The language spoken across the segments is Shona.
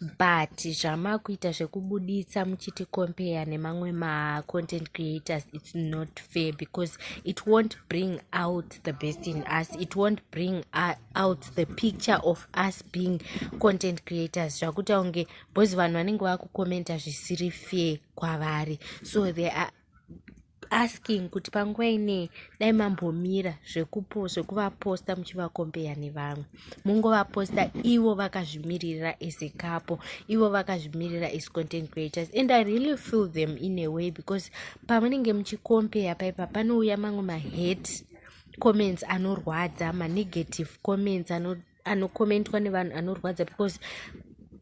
but zvamakuita zvekubuditsa muchiti compare nemamwe macontent creators its not fair because it won't bring out the best in us it won't bring out the picture of us being content creators zvakuita kunge bcause vanhu vanenge vakukomenta zvisiri fair kwavari so there are asking kuti panguva inei dai mambomira zvekuvaposta muchivakombeya nevamwe mungovaposta ivo vakazvimiririra as a capo ivo vakazvimiririra as content creators and i really feel them in a way because pamunenge muchikombeya paipa panouya mamwe mahet comments anorwadza manegative comments anoda anokomentwa nevanhu anorwadza because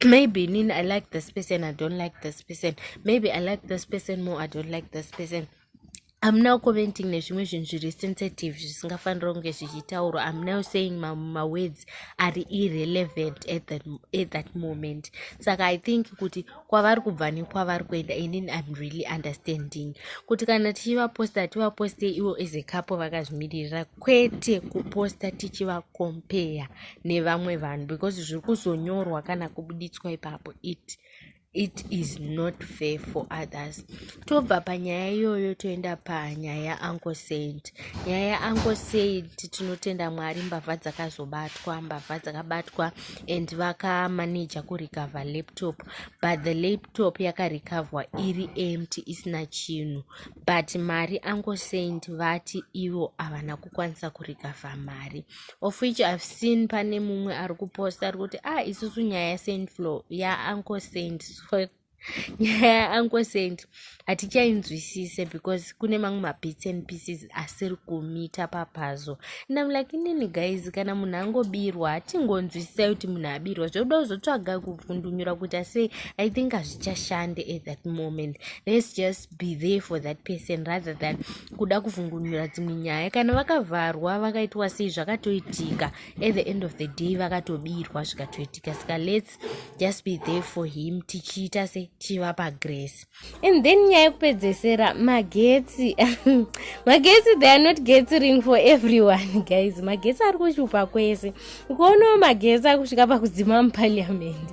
maybe nini i like this person i don't like this person maybe i like this person more i don't like this person am now commenting nezvimwe zvinhu zviri sensitive zvisingafanira kunge zvichitaurwa am now saying mawords ma ari irrelevant at that, at that moment saka i think kuti kwavari kubva nekwavari kuenda and then im really understanding kuti kana tichivaposta hativaposte ivo as a couple vakazvimiririra kwete kuposta tichivakompeya nevamwe vanhu because zviri kuzonyorwa kana kubuditswa ipapo it it is not fair for others tobva panyaya iyoyo toenda panyaya yauncle said nyaya yauncle said tinotenda mwari mbavha dzakazobatwa mbavha dzakabatwa and vakamanaja kurecover laptop but the laptop yakarecoverwa iri empty isina chinhu but mari angosend vati ivo havana kukwanisa kurecover mari of which ihave seen pane mumwe ari kuposta ari kuti ah isusu nyaya yasaint flow yaangosend nyaya yauncle saint hatichainzwisise because kune mamwe mabits and pieces asiri kumita papazo and im like inini guys kana munhu angobirwa hatingonzwisisai kuti munhu abirwa zvokuda kuzotsvaga kuvhundunyura kuita sei i think hazvichashande at that moment let's just be there for that person rather than kuda kuvhungunyura dzimwe nyaya kana vakavharwa vakaitwa sei zvakatoitika at the end of the day vakatobirwa zvikatoitika saka lets grace just be there for him tichiita se tichivapa grace and then nyaya yekupedzesera magetsi magetsi they are not getting for everyone guys magetsi ari kushupa kwese ukuonawo magetsi ari kusvika pakudzima muparliamendi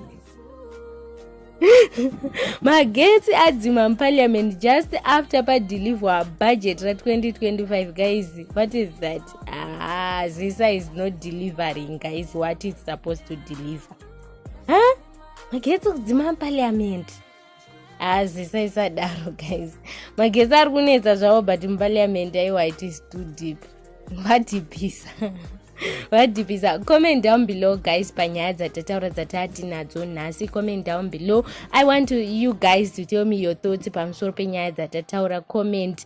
magetsi adzima muparliament just after padeliver budget ra 2025 guys what is that Ah, Zisa is not delivering, guys. What is supposed to deliver? Huh? Magetsi kudzima parliament. Ah, Zisa is a daro, guys. Magetsi ari kunetsa zvavo but muparliament aiwa it is too deep. Vadipisa. vadipisa comment down below guys panyaya dzatataura dzatatinadzo nhasi comment down below i want to, you guys to tell me your thoughts pamusoro penyaya dzatataura comment